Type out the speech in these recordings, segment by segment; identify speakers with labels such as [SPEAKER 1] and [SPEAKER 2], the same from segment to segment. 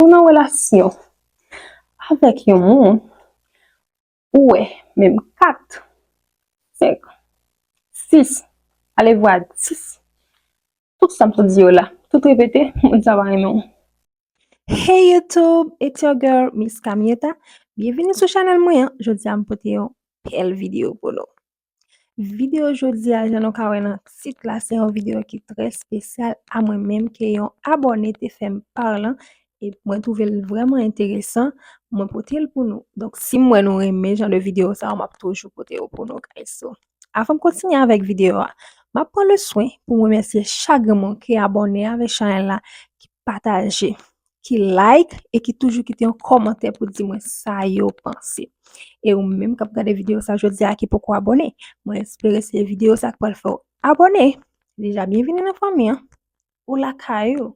[SPEAKER 1] Ou nan relasyon avèk yon moun ou wè menm 4, 5, 6, alevwa 10, tout sa m sot di yo la, tout repete, moun sa pa renmen w. Hey
[SPEAKER 2] YouTube, it's your girl Miss Camietta, byenvini sou chanèl mwen an, jodi a m pote yon bèl videyo pou nou. Video jodi a jan nou ka wè nan tit la se yon video ki trè spesyal a mwen menm ke yon abòne te fèm parlan e mwen twouve l vrèman enteresan mwen pote l pou nou. Donk si m wè nou renmen jan de video sa yo m ap toujou pote yo pou nou guys. So avan m kontinye avèk video a m ap pran le swen pou m remèsye chak grenn moun ki abòne avèk chanèl la, ki pataje, ki like e ki toujou kite yon kòmantè pou di mwen sa yo panse. E ou menm kap gade video sa jodi a ki poko abone, mwen espere se video sa k pral fè ou abone. Deja, byenvini nan fanmi an. Ou la kayou.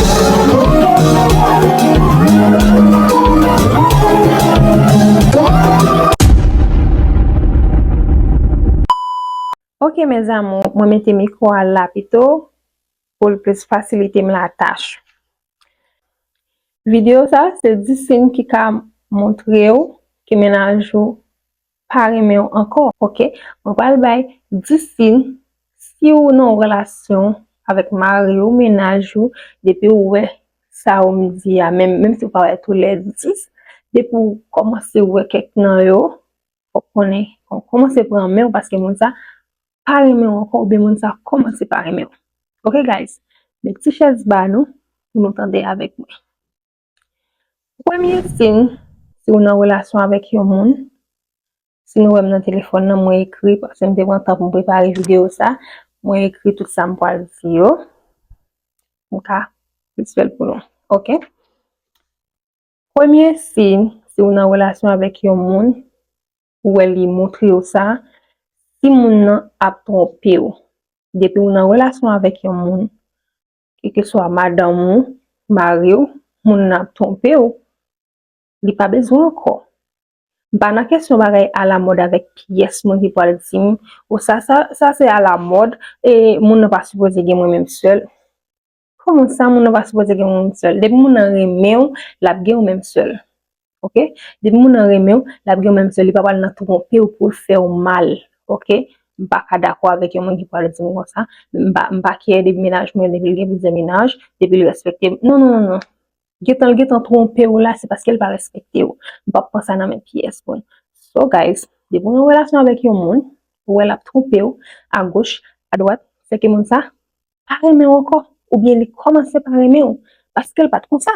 [SPEAKER 1] Ok mes amour, mwen mete mikro a la pito pou l plis fasilite m la tach. Video sa se 10 siy ki ka montre w ke mennaj ou pa renmen w ankò. Ok, mwen pral bay 10 siy si ou nan yon relasyon avèk mari ou, mennaj ou, depi ou wè sa yo m di a, menm menm si ou pa wè tou lè 10, depi ou kòmanse wè kèk nan yo, fòk konnen ou kòmanse pran men w paske moun sa pa renmen w ankò oubyen moun sa kòmanse pa renmen w. Ok guys, met ti chèz ba nou pou nou tande avèk mwen. Premye sin, si ou nan relasyon avèk yon moun, si nou wèm nan telefòn nan mwen ekri paske m te pran tan pou m prepare videyo sa, mwen ekri tout sa m pwal di yo, m ka plis fèl pou nou ok. Premye sin, si ou nan relasyon avèk yon moun, ou wè li montre yo sa, si moun nan ap twonpe ou, depi ou nan relasyon avèk yon moun, Kekeswa madanm ou, mari ou, moun nan ap twonpe ou, li pa bezwen w ankò. M pa nan kesyon bagay alamòd avèk pyès moun ki pral di m, o sa sa se alamòd, e moun nan pa sipoze gen mwen menm sèl. Kòman sa moun nan pa sipoze gen mwen menm sèl? Depi moun nan renmen w, l ap gen w menm sèl. ok depi moun nan renmenw lap gen menm sè li pa pral nan twonpew poul fèw mal ok m paka dakò avèk yon moun ki pral dim konsa m pa kè de mennaj mwen depi l gen plizyè mennaj depi l respektem non non non gentan l gentan twonpew la se paskel pa respektew m pap pran sa nan men pyès moun so guys depi w nan relasyon avèk yon moun ou wè lap twonpew agoch adwat se ke moun sa pa renmenw ankò oubyen li kòmanse pa renmenw paskel pat konsa.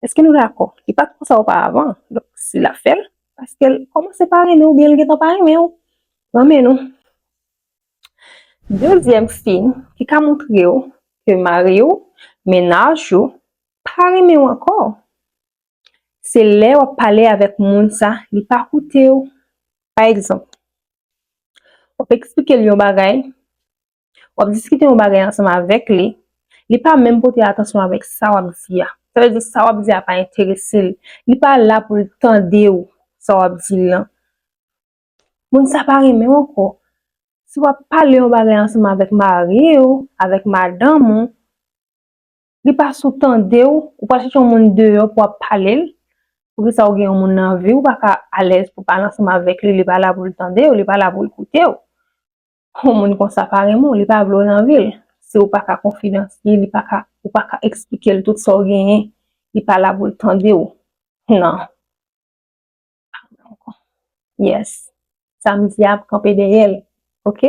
[SPEAKER 1] Eske nou dakò? Li pat konsa oparavan, donk si lap fèl, paskel kòmanse pa renmenw oubyen li gentan pa renmenw. Renmen nou. Dezyèm siy ki ka moutrew ke mariw, mennaj ou, pa renmenw ankò, se lè wap pale avèk moun sa li pa koutew. Pa egzanp, wap eksplikel yon bagay, W ap diskite yon bagay ansanm avèk li, li pa menm pote atansyon avèk sa w ap di a. Sa vle di sa w ap di a pa enterese l. Li pa la pou l tande w sa w ap di l lan. Moun sa pa renmen w ankò. Si w ap pale yon bagay ansanm avèk mari w, avèk madanm ou, li pa sou tande w, ou pral chèche yon moun deyò pou w ap pale l. Poukisa ou gen yon moun nan vi w, ou pa ka alèz pou w pale ansanm avèk li, li pa la pou l tande w, li pa la pou l koute w. Yon moun konsa pa renmen w, li pa vle w nan vi l. Si w pa ka konfidans li, li pa ka, ou pa ka eksplike l tout sa w genyen, li pa la pou l tande w. Non. Pa vle ankò. Yes. Sa m di a ap kanpe dèyè l. Ok?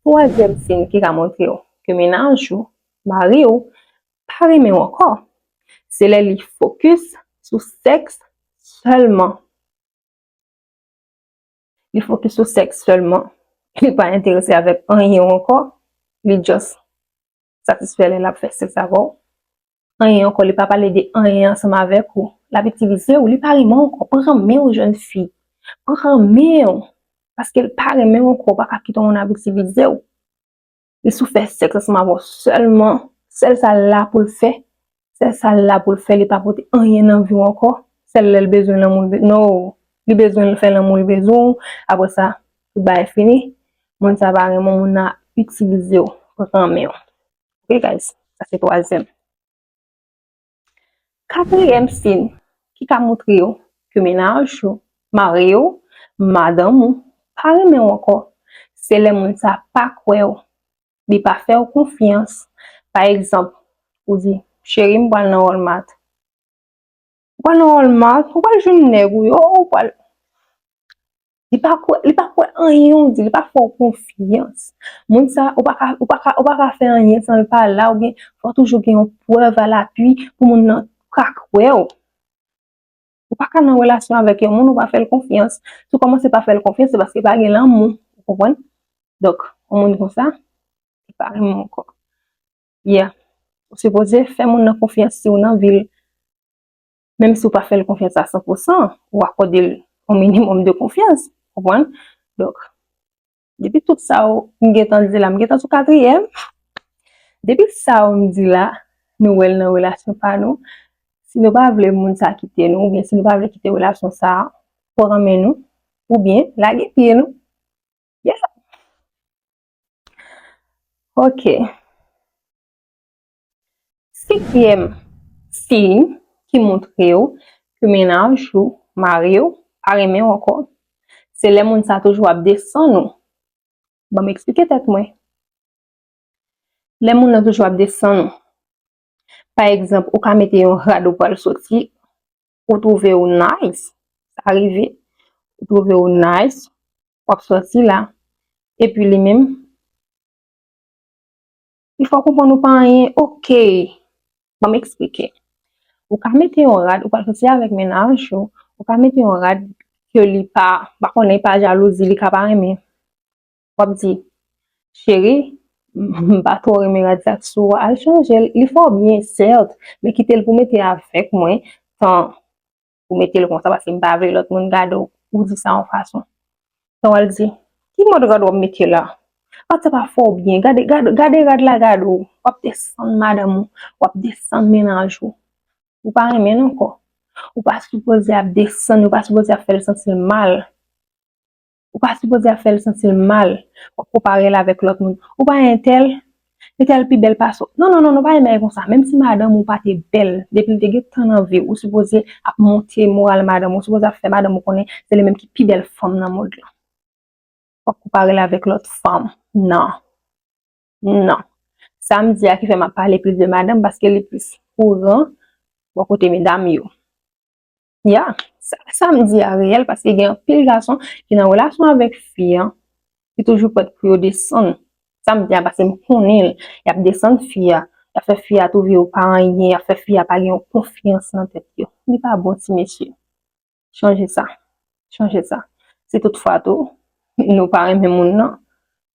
[SPEAKER 1] Twazyèm siy ki ka montre w ke mennaj ou, mari w, pa renmen w ankò, se lè li fokis sou sèks sèlman. Li fokis sou sèks sèlman. Li pa enterese avèk anyen ou ankò. Li just satisfè lè l ap fè sèks avè w. Anyen ankò, li pa pale de anyen ansanm avèk ou. L ap itilize ou. Li pa renmen w ankò. Pran men w jèn fi. Pran men w. Paske l pa renmen w ankò. Ou pa ka kite yon moun ap itilize w. Li sou fè sèks ansanm avè w sèlman, sèl sa l la pou l fè, sèl sa l la pou l fè, li pa pote anyen nan vi w ankò, sèl lè l bezwen lanmou l, no, li bezwen l fè lanmou, li bezwen w, aprè sa, tout bagay fini, moun sa pa renmen w, moun nan ap itilize w, pran men w. Ok guys, sa se twazyèm. Katriyèm siy ki ka moutre yo ke mennaj ou, mari ou, madanm ou pa renmen ou ankò, se lè moun sa pa kwè ou, li pa fè ou konfyans. Pa egzanp, ou di, Cheri m pral nan Walmart. Ou pral nan Walmart, ou pral jwenn nèg ou yo, ou pral. Li pa kwè, li pa kwè anyen ou di, li pa fè w konfyans. Moun sa, ou pa ka, ou pa ka, ou pa ka fè anyen san l pa la ou byen fò toujou gen yon prèv a lapui pou moun nan ka kwè w. Ou pa ka nan relasyon avèk yon moun ou pa fè l konfyans. Si w kòmanse pa fè l konfyans se paske pa gen lanmou, ou konprann? Donk, yon moun konsa, li pa renmen w ankò. Yeah. Ou sipoze fè moun nan konfyans si w nan vi l. menm si w pa fè l konfyans a san pou san, ou akòde l yon minimòm de konfyans. Ou konprann? Donk, depi tout sa yo m gen tan di la, m gen tan sou katriyèm, depi sa yo m di la, nou wè l nan relasyon pa nou, si nou pa vle moun sa kite nou oubyen si nou pa vle kite relasyon sa pran men nou, oubyen lage pye nou. Yeah! Ok. Sekyèm siy ki montre w ke mennaj ou, mari w, pa renmen w ankò, se lè moun sa toujou ap desann ou. Ban m eksplike tèt mwen. Lè moun nan toujou ap desann ou, pa egzanp, ou ka mete yon rad ou pral soti, ou twouve w nice, sa rive, ou twouve w nice, w ap soti la, epi li menm, Li fè w konprann ou pa anyen. Ok! Ban m eksplike. Ou ka mete yon rad, ou pral soti avèk mennaj ou, ou ka mete yon rad ke li pa, m pa konnen, pa jalouzi, li ka pa renmen. W ap di, Cheri, m pa twò renmen rad sa k sou ou a, al chanje l. Li fè w byen, sèt, men kite l pou mete avèk mwen, tan ou mete l konsa paske m pa vle lòt moun gade w ou di sa yon fason. Sa w al di, ki mòd rad w ap mete la? Rad sa pa fè w byen, gade gade rad la gade w, w ap desann madanm ou, w ap desann mennaj ou. Ou pa renmen l ankò. Ou pa sipoze ap desann, ou pa sipoze ap fè l santi l mal. Ou pa sipoze ap fèl santil mal, wap konparel avèk lòt moun, ou pa entèl, entèl pi bèl pase w, non non non non pa gen bagay konsa, menm si madanm ou pate bèl depil te gen tan nan viw ou sipoze ap monte moral madanm ou, ou sipoze ap fè madanm ou konnen se li menm ki pi bèl fanm nan mond lan, wap konparel avèk lòt fanm, nan, nan, sam di a ki fè map pale plis de madanm paske li plis kouran bò kote medam yo. Ya, sa m di a reyèl paske gen anpil gason ki nan relasyon avèk fi an, ki toujou prèt pou yo desann. Sa m di a paske m konnen l. Y ap desann fi a, y ap fè fi a twouve yo pa anyen, y ap fè fi a pa gen yon konfyans nan tèt yo. Li pa bon ti mesye. Chanje sa. Chanje sa. Si tout fwa tou, nou pa renmen moun nan,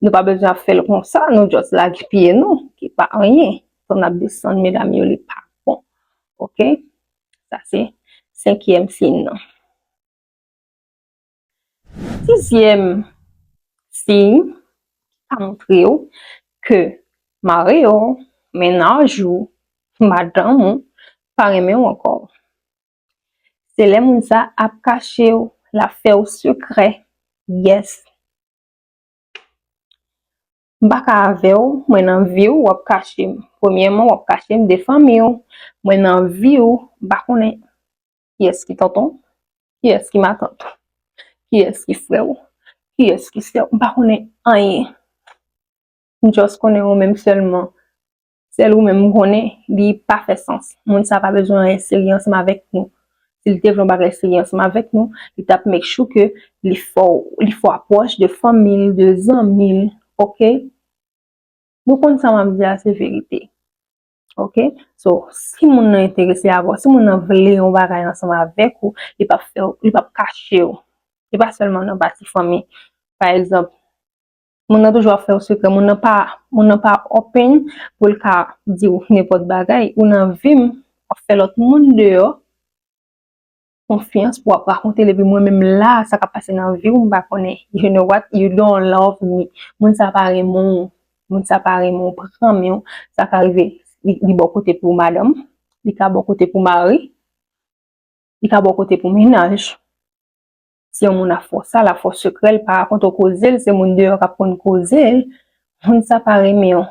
[SPEAKER 1] nou pa bezwen ap fè l konsa, nou just lage pye nou, ki pa anyen. Fò n ap desann medam yo, li pa bon. Ok? Sa se senkyèm siy nan. Sizyèm siy a montre ou ke mari ou, mennaj ou, madanm ou pa renmen ou ankò. Se lè moun sa ap kache ou, l ap fè ou sekrè. Yes. M pa ka avè w Mwen nan vi w wap kache m Premyèman wap kache m de fanmi w Mwen nan vi w M pa konnen kiyès ki tonton w Kiyès ki matant ou Kiyès ki frè w Kiyès ki sè w M pa konnen anyen M just konnen ou menm sèlman Sèl ou menm m konnen li pa fè sans. Moun sa pa bezwen anyen serye ansanm avèk nou. Si li te vle yon bagay serye ansanm avèk nou, li t ap make sure ke li fè w, li fè w apwòch de fanmi l, de zanmi l, ok? Nou konn sa m ap di a se verite. Ok? So, si moun nan enterese avè w, si moun nan vle yon bagay ansanm avèk ou, li p ap fè w, li p ap kache w. Se pa sèlman nan pati fanmi. Pa egzanp, Moun nan toujou ap fè yon sekrè, moun nan pa, moun nan pa open pou l ka di w nenpòt bagay, ou nan vi m, w ap fè lòt moun deyò konfyans pou w ap rakonte l epi mwen menm la a, sa k ap pase nan vi w m pa konnen, you know what, you don't love me, moun sa pa renmen w, moun sa pa renmen w, pran men w, sa ka rive li bò kote pou madanm, li ka bò kote pou mari, li ka bò kote pou mennaj. Si yon moun ap fè w sa, l ap fè w sekrè l, pa rakonte w koze l, se moun deyò k ap konn koze l, moun sa pa renmen w.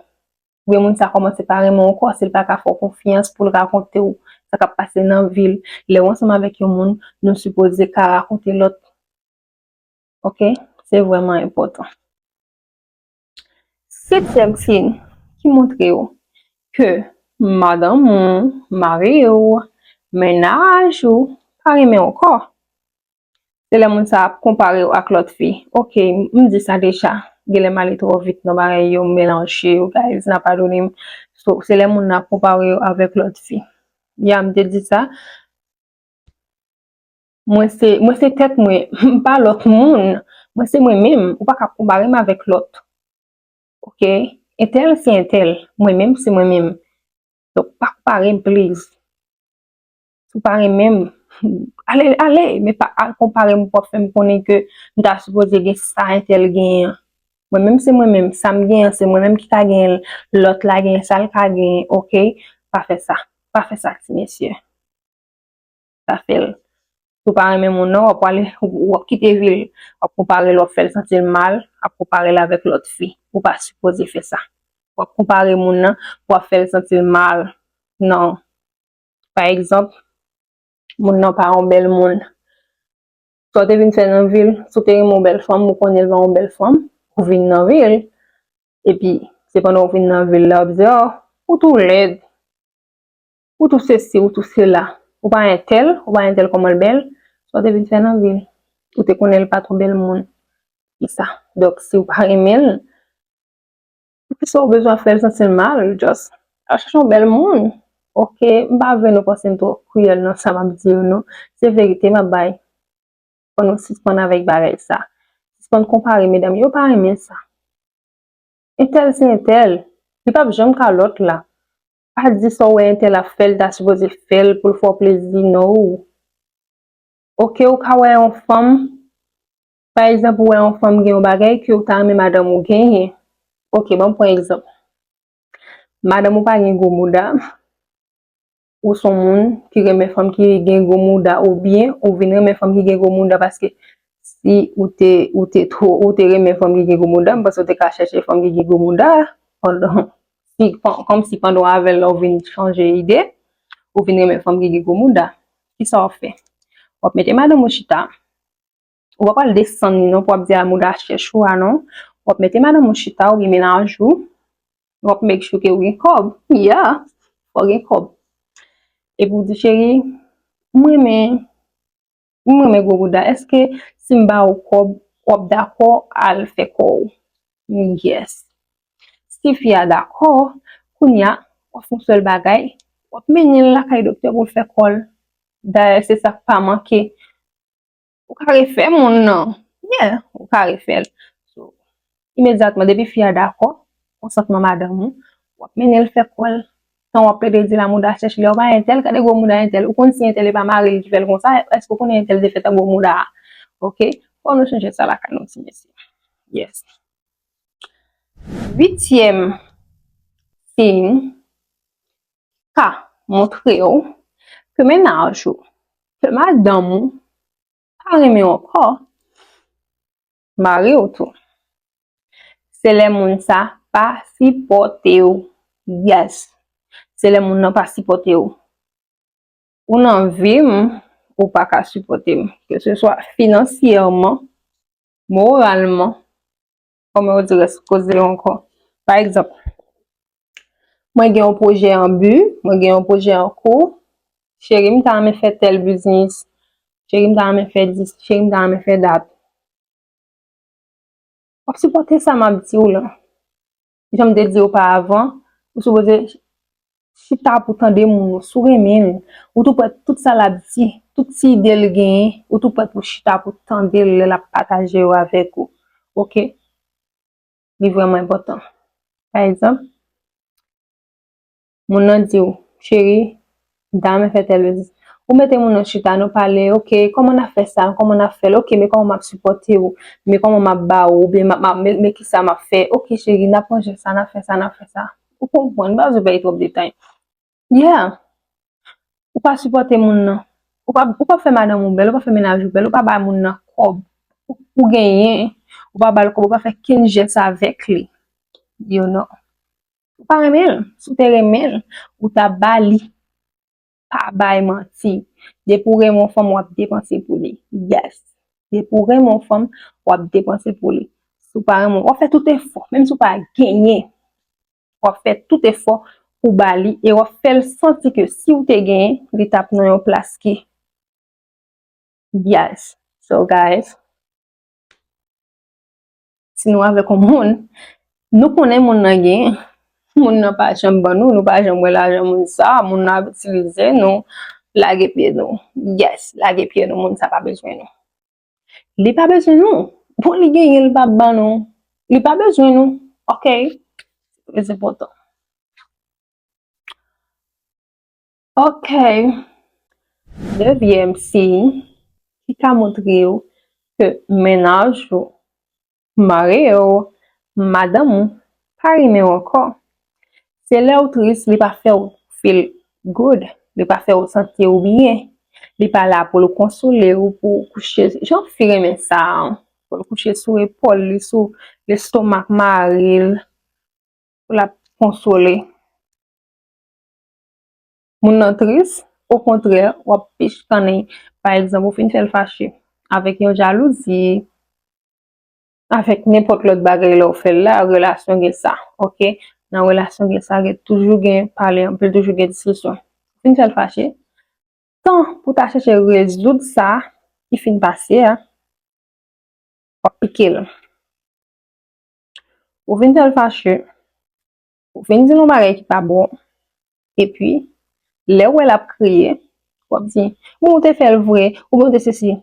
[SPEAKER 1] Oubyen moun sa kòmanse pa renmen w ankò paske l pa ka fè w konfyans pou l rakonte w sa k ap pase nan vi l. Lè w ansanm avèk yon moun, nou sipoze ka rakonte lòt. Ok, se vrèman enpòtan. Setyèm siy ki montre w ke madanm ou, mari w, mennaj ou pa renmen w ankò, se lè moun sa ap konpare w ak lòt fi. Ok, m di sa deja, genlè m ale twò vit nan bagay yo, m melanje yo guys, n a padone m. So, se lè moun nan ap konpare w avèk lòt fi. Ya m te di sa. Mwen se mwen se tèt mwen m pa lòt moun mwen se mwen menm ou pa ka konpare m avèk lòt ok entèl se entèl mwen menm se mwen menm donk pa konpare m pliz si w pa renmen m ale ale men pa al konpare m pou w ap fè m konnen ke m ta sipoze gen sa entèl genyen an mwen menm se mwen menm sa m genyen an se mwen menm ki ka genyen l lòt la genyen sa l ka genyen ok pa fè sa pa fè sa ti mesye. pa fèl si w pa renmen moun nan wap pwale wap kite vil wap konpare l wap fèl santi l mal ap konpare l avèk lòt fi ou pa sipoze fè sa wap konpare moun nan pou wap fèl santi l mal nan pa egzanp moun nan pa yon bèl moun sa w te vin fè nan vil si w te renmen yon bèl fanm ou konnen l pa yon bèl fanm ou vin nan vil epi se pandan w vin nan vil la wap di a ou tou lèd. Ou tou sesi, ou tou sela. Ou pa entèl, ou pa entèl kòman l bèl? Sa w te vin fè nan vi l? Ou te konnen l pa twò bèl moun. Ki sa? Donk si w pa renmen l, ki sa w bezwen fè l santi l mal? Just al chèche yon bèl moun. Ok, m pa vle nou panse m twò kriyèl nan sa m ap di yo non. Se verite m ap bay. Fò nou sispann avèk bagay sa. Sispann konpare medam yo. Yo pa renmen sa. Entèl se entèl. Li p ap janm ka lòt la. Pa di sa w wè entèl ap fè li ta sipoze fè l pou l fè w plezi no oke ou ka wè yon fanm pa egzanp ou wè yon fanm gen yon bagay ke ou ta renmen madanm ou genyen oke ban m pran egzanp madanm ou pa gen gwo mouda ou son moun ki renmen fanm ki gen gwo mouda oubyen ou vin renmen fanm ki gen gwo mouda paske si ou te ou te ou te renmen fanm ki gen gwo mouda m panse ou te ka chèche fanm ki gen gwo mouda pandan Si, kòm si pandan w avè l la ou vin chanje ide, ou vin renmen fanm ki gen gwo mouda, ki sa w ap fè? W ap mete madanm ou chita, ou pa pral desann li non pou w ap di a mouda chèch ou a non, w ap mete madanm ou chita oubyen mennaj ou, w ap make sure ke ou gen kòb, ya, fò w gen kòb, epi w di cheri, m renmen. M renmen gwo bouda. Eske si m ba ou kòb, w ap dakò al fè kò ou? Yes. Si fi a dakò, kounye a, w ap fè yon sèl bagay, w ap mennen l lakay doktè pou l fè kò l. Dayè se sa k pa manke. Ou ka refè moun nan. Yeah, ou ka refè l. imedyatman depi fi a dakò, konsantman madanm ou, wap mennen l fè kò l, tan wap plede di la mouda chèch lè ou bay entèl gade gwo mouda entèl, ou konn si entèl e pa mari l ki fè l konsa, èske ou konnen entèl te fèt ak gwo mouda a ok, fò nou chanje sa lakay nou ti mesye yes. Uityèm siy ka montre w ke mennaj ou, ke madanm ou pa renmen w ankò, mariw tou se lè moun sa pa sipòtew yes se lè moun nan pa sipòtew ou nan vim ou paka sipòtem ke se swa finansyèman moralman kòman yo di rès koze yo ankò pa egzanp Mwen gen yon pwojè an bi, mwen gen yon pwojè an kou. Cheri m ta renmen fè tèl biznis. Cheri m ta renmen fè dis, cheri m ta renmen fè dat. W ap sipòte sa m ap di w lan. Jan m te di w pa avan, ou sipoze chita pou tande moun yo. Si w renmen l, ou tou prèt tout sa l ap di, tout ti ide l genyen, ou tou prèt pou chita pou tande l lè l ap pataje yo avèk ou. Ok? li vreman enpotan. Pa egzanp, moun nan di ou, cheri, dame fè tèl betiz. Ou mete moun nan chita, nou pale, ok, koman na fè sa, koman na fèl, ok, men koman map sipote ou, men koman map ba ou, men ki sa map fè, ok cheri, na pran jen sa, na fè sa, na fè sa. Ou konprann, m pa bezwen bay trop detay. Yeah! Ou pa sipòte moun nan. Ou pa, ou pa fè madanm ou bèl, ou pa fè mennaj ou bèl, ou pa ba moun nan kòb ou genyen, ou pa ba l kòb, ou pa fè kenn jès avèk li. You know. Ou pa renmen l. Si w te renmen l, ou ta ba li. Pa bay manti. Depi ou renmen yon fanm, w ap depanse pou li. Yes! Depi ou renmen yon fanm, w ap depanse pou li. Si w pa renmen l, w ap fè tout efò, menm si w pa genyen. wap fè tout efò pou ba li e wap fèl santi ke si ou te genyen li tap nan yon plas ki byaz. So guys, si nou avèk yon moun, nou konnen moun nan genyen, moun nan pa janm ban nou, nou pa janm wè lajan moun sa, moun nan ap itilize nou, lage pye nou. Yes, lage pye nou, moun sa pa bezwen nou. Li pa bezwen nou. Bon li genyen li pa ban nou. Li pa bezwen nou. Ok. Mwen se potan. Ok. Devyèm siy ki ka montre yo ke menaj yo Mari ou, madanm ou, pa renmen w ankò. Se lè ou tris li pa fè w feel good, li pa fè w santi w byen. Li pa la pou l konsole w, pou w kouche, jan fi renmen sa an, pou l kouche sou epòl li, sou lestomak mari l, pou l ap konsole. Moun nan tris, okontrè, w ap pichkannen. Pa egzanp, ou fin fè l fache avèk yon jalouzi, Avèk nenpòt lòt bagay lè ou fè l la, relasyon gen sa, ok. Nan relasyon gen sa, gen toujou gen pale anpil, toujou gen diskisyon. Fin fè l fache, tan pou ta chèche rezoud sa ki fin pase a, w ap pike l. Ou fin fè l fache, Ou fin di l yon bagay ki pa bon, epi, lè ou wè l ap kriye, w ap di, bon, ou te fè l vre, oubyen ou te sesi.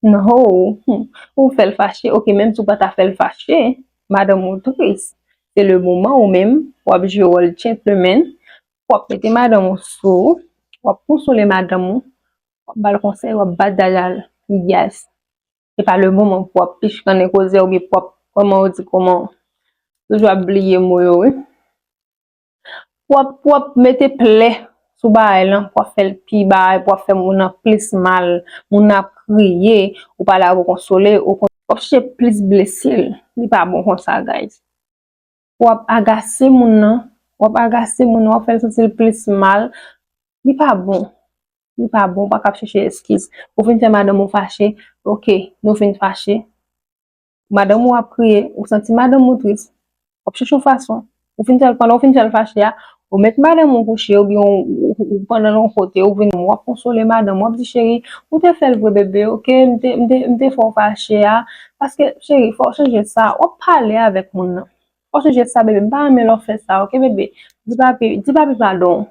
[SPEAKER 1] Nhoo, hum, ou fè l fache, ok, menm si ou pa ta fè l fache, madanm ou tris, se le moman ou menm, w ap jwe wòl gentleman, w ap mete madanm ou sou ou, w ap konsole madanm ou, w ap ba l konsèy, w ap bat dada l, yes. Se pa le moman pou ap pichkannen koze oubyen pou ap kòman ou di kòman ou. Toujou ap bliye mo yo wi. Pou ap pou ap mete plè sou bagay lan, pou ap fè l pi bagay, pou ap fè moun nan plis mal, moun nan ap kriye, ou pa la pou konsole, ou ap chèche plis blese l. Li pa bon konsa guys. wap agase moun nan, wap agase moun nan, wap fèl santi l plis mal, li pa bon, li pa bon, ou pa ka ap chèche eskiz, ou fin fè madanm ou fache, ok, nou fin fache, madanm ou ap kriye, ou santi madanm ou tris, wap chèche yon fason, ou fin fèl, pandan ou fin fèl fache a, Ou met madanm ou kouche oubyen ou pran nan yon kote ou vin wap konsole madanm ou wap di cheri ou te fèl vre bebe ok m te fè w fache a paske cheri fò w chanje sa wap pale avèk moun nan fò w chanje sa bebe m pa renmen lè w fè sa ok bebe di papi di papi padon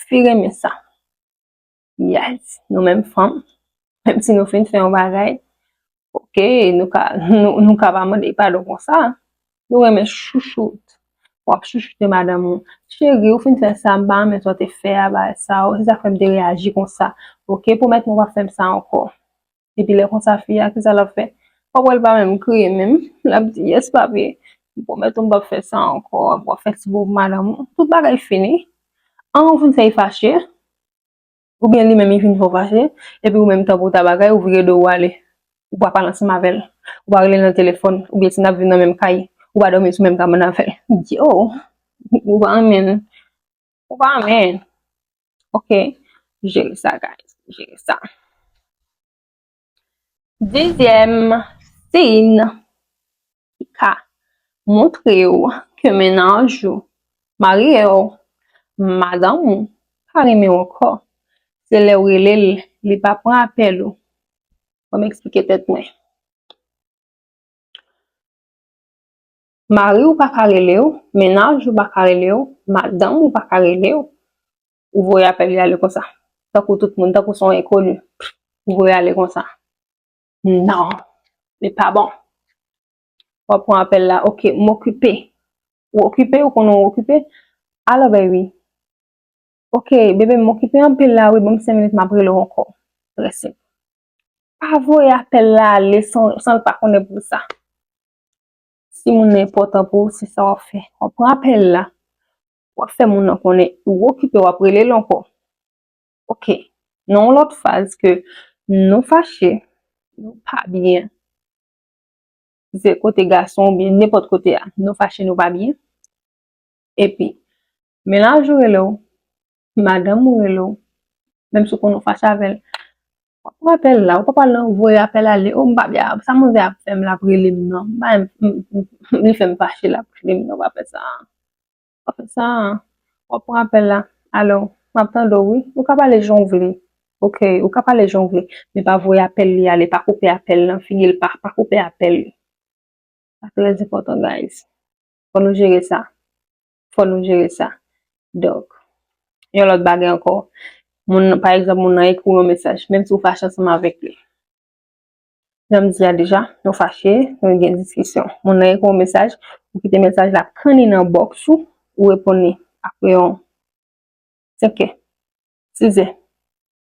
[SPEAKER 1] fi renmen sa. Yes, nou menm fanm, menm si nou fin fè yon bagay, ok, nou ka, nou ka pa mande padon konsa. Nou renmen chouchoute. W ap chouchoute madanm ou. Cheri, ou fin fè sa, m pa renmen sa w te fè a, bagay sa o. Se sa k fè m te reyaji konsa. Ok, pwomèt m ou pa fè m sa ankò. Epi lè konsa fi a kisa lap fè? Wap wèl pa menm kriye menm, lap di yes papi m pwomèt ou m pap fè sa ankò, epi wap fè ti bobo madanm ou, tout bagay fini, an ou vin fè li fache, oubyen li menm li vin fè w fache, epi ou menm tankou w ta bagay ou vire do ou ale, ou pa pale ansanm avèl, ou pa relel nan telefòn, oubyen si nap viv nan menm kay, ou pa dòmi sou menm kabann avèl, yo ou pa renmenl. Ou pa renmen. Ok. Jere sa guys. Jere sa. Dezyèm sin ki ka montre w ke mennaj ou, mari w, madanm ou pa renmen w ankò. Se lè w rele l, li pa pran apèl ou. Banm eksplike tèt mwen. Mari w pa ka rele w, mennaj ou pa ka rele w, madanm ou pa ka rele w, ou voye apèl li ale konsa. Tankou tout moun, tankou se yon enkoni. Ou voye ale konsa. Non! Li pa bon. W ap pran apèl la, ok, m okipe. Ou okipe, ou konnen w okipe. Alo baby. Ok, bebe m okipe anpil la wi, ban m 5 minit m ap rele w ankò. Trè senp. Pa voye apèl la ale san l pa konnen pou sa. Si moun nan enpòtan pou ou, se sa w ap fè. W ap pran apèl la, w ap fè moun nan konnen ou okipe, w ap rele l ankò. Ok, nan yon lòt faz ke nou fache, nou pa byen, si se kote gason ou byen nenpòt kote a, nou fache nou pa byen, epi menaj ou rele w, madanm ou rele w, menm si w konnen w fache avè l, pa pran apèl la, ou pa pral nan voye apèl ale, o m pa byen, sa manzè ap fè m la ap rele m nan, m pa renmen, li fè m fache la ap rele m nan, pa fè sa, pa fè sa, w ap pran apèl la, alo, m ap tande w wi, ou ka pale jan w vle, ok, ou ka pale jan w vle, men pa voye apèl li ale, pa koupe apèl nan, fini l pa, pa koupe apèl li, sa trèzepòtan guys, fò nou jere sa. fò nou jere sa. Donk, yon lòt bagay ankò, moun, pa egzanp, moun nan ekri w yon mesaj, menm si ou fache ansanm avèk li, jan m di a deja, nou fache, nou gen diskisyon, moun nan ekri w yon mesaj, ou kite mesaj la pran li nan bòks ou, ou reponn li apre yon senkè, sizè,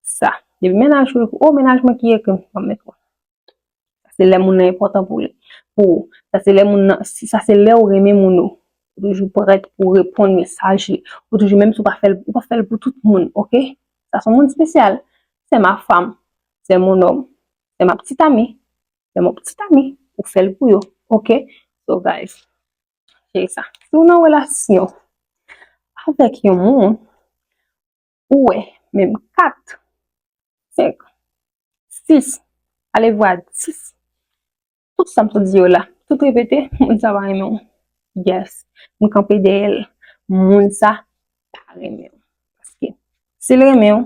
[SPEAKER 1] sa. Depi mennaj ou ekri, oh mennaj mwen ki ekri m, m ap met wè. Sa se lè moun nan enpòtan pou li, pou ou. Sa se lè moun nan, sa se lè ou renmen moun ou. Ou toujou prèt pou ou reponn mesaj li. Ou toujou menm si ou pa fè l, ou pa fè l pou tout moun, ok. Sa s on moun spesyal. Se ma fam, se mon nonm, se ma ptit ami, se mon ptit ami. Ou fè l pou yo, ok. So guys, se sa. Si ou nan relasyon avèk yon moun. Ou wè, menm 4, 5, 6, alevwa 10, tout sa m sot di yo la, tout repete, moun sa pa renmen w. Yes, m kanpe dèyè l, moun sa pa renmen w. Paske, si l renmen w,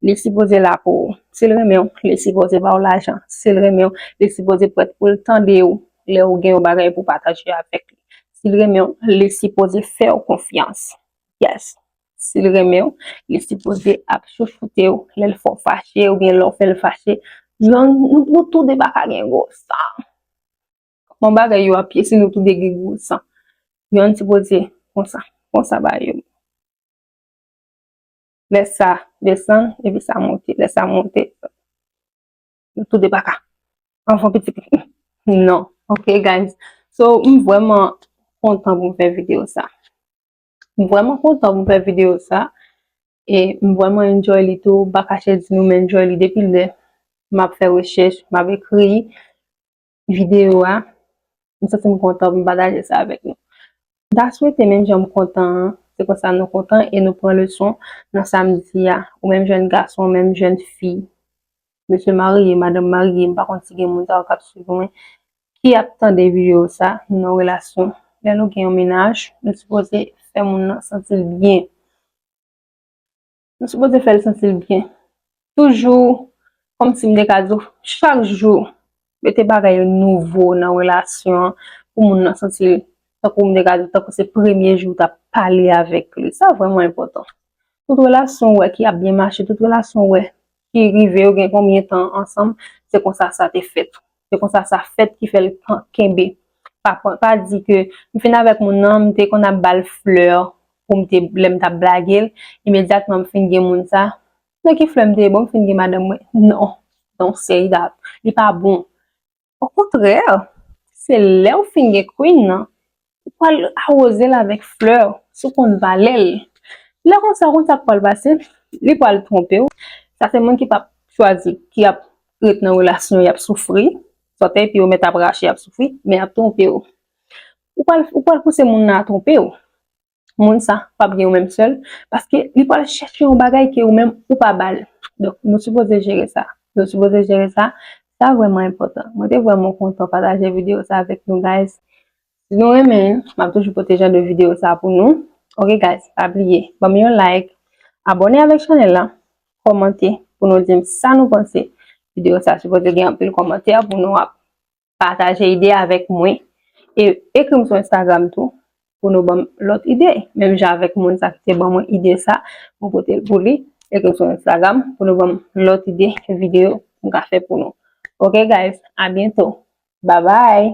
[SPEAKER 1] li sipoze la pou ou. Si l renmen w, li sipoze ba w lajan. Si l renmen w, li sipoze prèt pou l tande w lè ou gen yon bagay pou w pataje avèk li. Si l renmen w, li sipoze fè w konfyans. Yes. si l renmen w, li sipoze ap chouchoute w lè l fè w fache oubyen lè w fè l fache. Nou tou de pa ka gen gwo san. Kòman bagay yo ap ye si nou tou de gen gwo san? Yonn sipoze konsa, konsa ba yo. Lè sa desann, epi sa monte. Lè sa monte, nou tou de pa ka. Anfon pitit li. Non. Ok guys. So, m vwèman kontan pou m fè videyo sa. M vreman kontan pou m fè video sa e m vreman enjoy li tou m pa kache di nou m enjoy li depi lè m ap fè rechèch m ap ekri video a m santi m kontan pou m pataje sa avèk nou m ta swete menm jan m kontan an se konsa nou kontan e nou pran leson nan sa m di a ou menm jèn gason ou menm jèn fi mesye marye, madanm marye, m pa konn si gen moun sa yo k ap swiv mwen, ki ap tande videyo sa, nou nan relasyon. Lè nou gen yon menaj, nou sipoze fè moun nan santi l byen. Nou sipoze fè l santi l byen. Toujou, kòm si m te ka di w, chak jou, mete bagay yo nouvo nan relasyon an pou moun nan santi l tankou m te ka di l tankou se premye jou w t ap pale avèk li. Sa vrèman enpòtan. Tout relasyon ou wè ki ap byen mache, tout relasyon ou wè ki rive yo gen konbyen tan ansanm, se konsa sa te fèt. Se konsa sa fèt ki fè l kenbe. Pa pran, pa di ke m fin avèk moun nan, m te konn ap ba l flè pou m te, lè m t ap blage l, imedyatman m fin gen moun sa, Nan ki flèm te bon fin gen madanm mwen non non seyda li pa bon okontrè se lèw fin gen queen nan ou pwal awozel avèk flè sou konn valèl lè konsa ou konn sak pwal pase li pwal twonpew sa se moun ki pap chwazi ki ap ret nan relasyon yap soufri sòtèy pi yo mèt ap rache yap soufri men yap twonpew ou pwal pouse moun nan a twonpew. moun sa pap gen ou menm sèl, paske li pral chèche yon bagay ke ou menm ou pa ba l. Donk, nou sipoze jere sa. Nou sipoze jere sa. Sa vrèman enpòtan. Mwen te vrèman kontan pataje videyo sa avèk nou guys. Si nou renmen, m ap toujou pote jan de videyo sa pou nou. Ok guys, pa bliye ban m yon like, abòne avèk chanèl la, kòmante pou nou di m sa nou panse. Videyo sa sipoze gen anpil kòmantè pou nou ap. pataje ide avèk mwen e ekrim sou Instagram tou pou nou banm lòt ide menm jan avèk moun sa ki te ban mwen ide sa mwen potel pou li ekrim sou Instagram pou nou banm lòt ide video m ka fè pou nou ok guys a byento babay